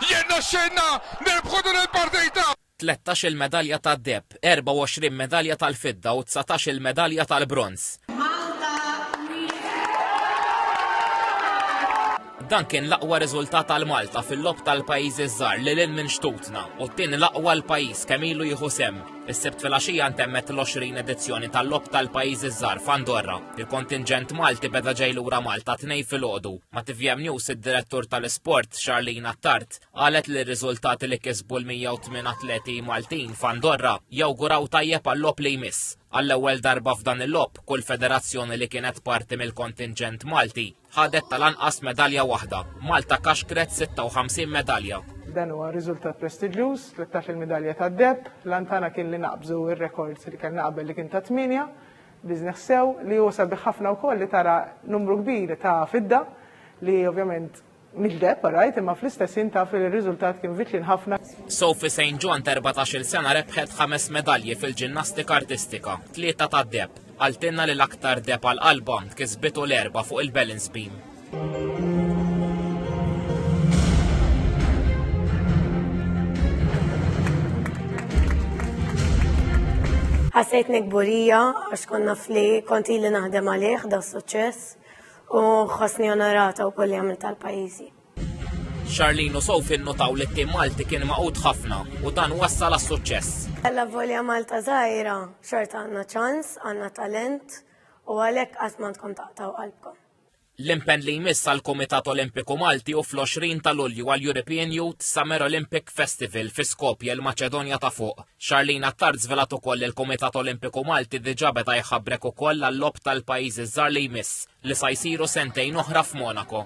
Jirnexxielna nirbħu din il-partita! Tlettax-il medalja tad-deheb, 24 medalja tal-fidda u dsatax-il medalja tal-bronż. Dan kien l-aqwa riżultat għal Malta fil-Logħob tal-Pajjiżi ż-Żgħar lil hinn minn xtutna u t-tieni l-aqwa għall-pajjiż kemm ilu jieħu sehem. Is-Sibt filgħaxija ntemmet l-20 edizzjoni tal-Logħob tal-Pajjiżi ż-Żgħar f'Andorra. Il-kontinġent Malti beda ġej lura Malta t-Tnejn filgħodu. Ma' tvm News id-Direttur tal-Isport, Charlene Attard, qalet li r-riżultati li kisbu l-108 atleti Maltin f'Andorra jawguraw tajjeb għal-logħob li jmiss. Għall-ewwel darba f'dan il-logħob, kull federazzjoni li kienet parti mill-kontinġent Malti Ħadet tal-anqas medalja waħda. Malta kaxkret 56 medalja. Dan huwa riżultat prestiġjuż, 13-il midalja tad-deheb. L-għan tagħna kien li naqbżu r-rekord li kellna qabel li kien ta' tmienja. Biżnih sew li hu sabiħ ħafna wkoll li tara numru kbir ta' fidda li ovvjament mhix deheb alright imma fl-istess ħin taf li r-riżultat kien viċin ħafna. Sophie St. John t'erbatax-il sena rebħet ħames medalji fil-ġinnastika artistika, tlieta tad-deheb. Qaltilna li l-aktar deheb għal qalbha kisbitu l-Erbgħa fuq il-balance beam. Ħassejtni kburija għax kont naf li kont ili naħdem għalih da suċċess u ħossni onorata wkoll li għamilt għall-pajjiżi. Charlene u Sophie nnutaw li t-tim Malti kien maqut ħafna u dan wassal għas-suċċess. Alla volja Malta żgħira, xorta għandna ċans, għandna talent u għalhekk qatt m'għandkom taqtaw qalbkom. L-impenn li jmiss għal Kumitat Olimpiku Malti u fl-20 ta' Lulju għal European Youth Summer Olympic Festival fi Skopje l-Maċedonja ta' fuq. Charlene Attard żvelat ukoll il-Kumitat Olimpiku Malti diġà beda jħabbrek ukoll għall-lob tal-pajjiżi żgħar li jmiss li sa jsiru sentejn oħra f'Monaco.